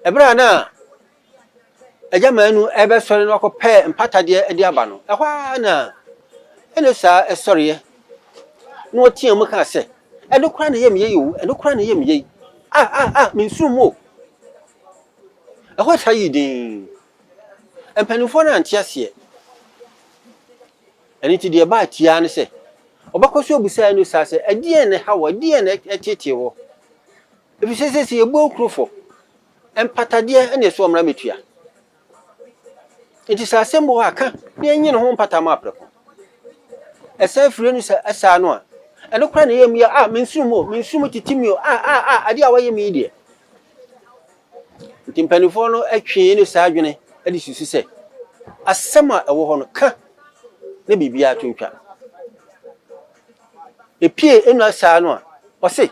Ɛberɛ a na Agya Manu rebɛsɔre na wakɔpɛ mpatadeɛ de aba no, ɛhɔ ara na Enosa sɔreɛ na ɔteaa mu kaa sɛ, ɛno koraa na ɛyɛ me yei o, ɛno koraa na ɛyɛ me yei. Ah, ah, ah, mensuro mu o. Ɛhɔ saa yii dinn. Mpanimfoɔ no ante aseɛ. Ɛno nti deɛ ɛbaa tiaa ne sɛ, ɔbɛkɔ so abusa Enosa sɛ, ɛdeɛn na ɛha wo, ɛdeɛn na ɛtetee wo? Efisɛ sɛ yɛbu awukuro fɔ, mpatadeɛ na ɛsɛ ɔmmra mmɛtua. Enti sɛ asɛm bi wɔ hɔ a, ka na ɛnyi ne ho mpata ma prɛko. Ɛsan firi no sɛ ɛsaa no a, ɛno koraa na ɛyɛ mmea a mensuro mu o, mensuro mu tete mi o, a a a adeɛ a wɔayɛ me yi deɛ. Nti mpanimfoɔ no twee ne saa adwene de susu sɛ asɛm a ɛwɔ hɔ no, ka na biribiara to ntwa. Epie ɛnu asaa no a, ɔse.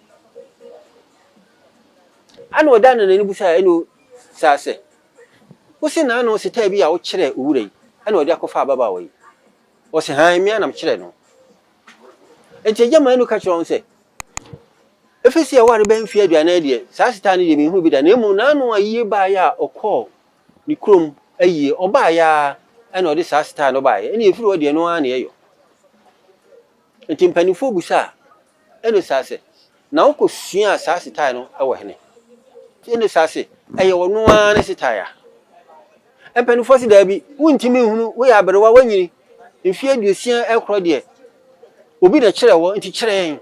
Ɛnna ɔdan no n'ani bisaa ɛnna obisaa sɛ, Wose na ano ɔsetaa bi a wokyerɛɛ owura yi na ɔde akɔfa ababaawa yi? Ɔse, Hann, mmea na mekyerɛɛ no. Enti agya maa no ka kyerɛɛ wɔn sɛ, Efi sɛ yɛware bɛyɛ mfe aduanan yi deɛ, saa asetaa no deɛ menhuu bi da, na mmom n'ano ayie baeɛ a ɔkɔɔ ne kurom ayie, ɔbaeɛ ara na ɔde saa asetaa no baeɛ, ɛnna efiri hɔ deɛ ɛno ara na ɛyɔ. Enti mpanimfoɔ bisaa Ɛne saa sɛ, na ɔkɔ suaa saa setae no wɔ hene. Ɛne saa sɛ, ɛyɛ ɔno ara ne setae a. Mpaninfoɔ se daabi, wontumi nhunu, woyɛ aberewa, woanyini, mfeɛ aduosia ɛkorɔ deɛ, obi na ɛkyerɛɛ wɔ, nti kyerɛ yɛn.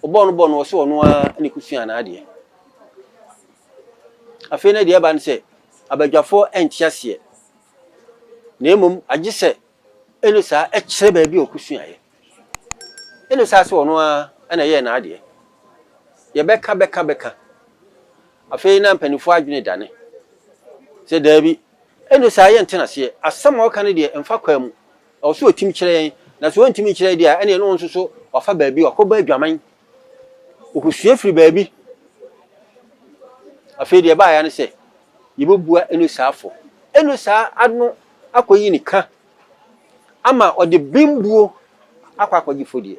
Ɔbɔɔ no bɔɔ no, ɔse ɔno ara na ɛkɔ suaa n'adeɛ. Afei na deɛ ɛba ne sɛ, abadwafoɔ ɛnte aseɛ, na mmom agye sɛ Ɛne saa, ɛkyerɛ baabi a ɔkɔsuaeɛ. Ɛne saa sɛ ɔno ara na ɛyɛɛ n'adeɛ. Yɛbɛka bɛka bɛka, afei na mpanimfoɔ adwene dane sɛ daabi, ɛne saa yɛnte no aseɛ, asɛm a ɔka no deɛ ɛmfa kwan mu, ɛwɔ sɛ ɔtim kyerɛ yɛn, na sɛ ɔntumi nkyerɛ deɛ a, ɛnneɛ na ɔno nso so wafa baabi, wakɔbɔ adwaman Wɔkɔsua firi baabi. Afei deɛ ɛbaeɛ ne sɛ, yɛbɛbua Enosa afɔ. Enosa ano akɔyi ne ka ama ɔde bembuo akɔ akɔgye fodie.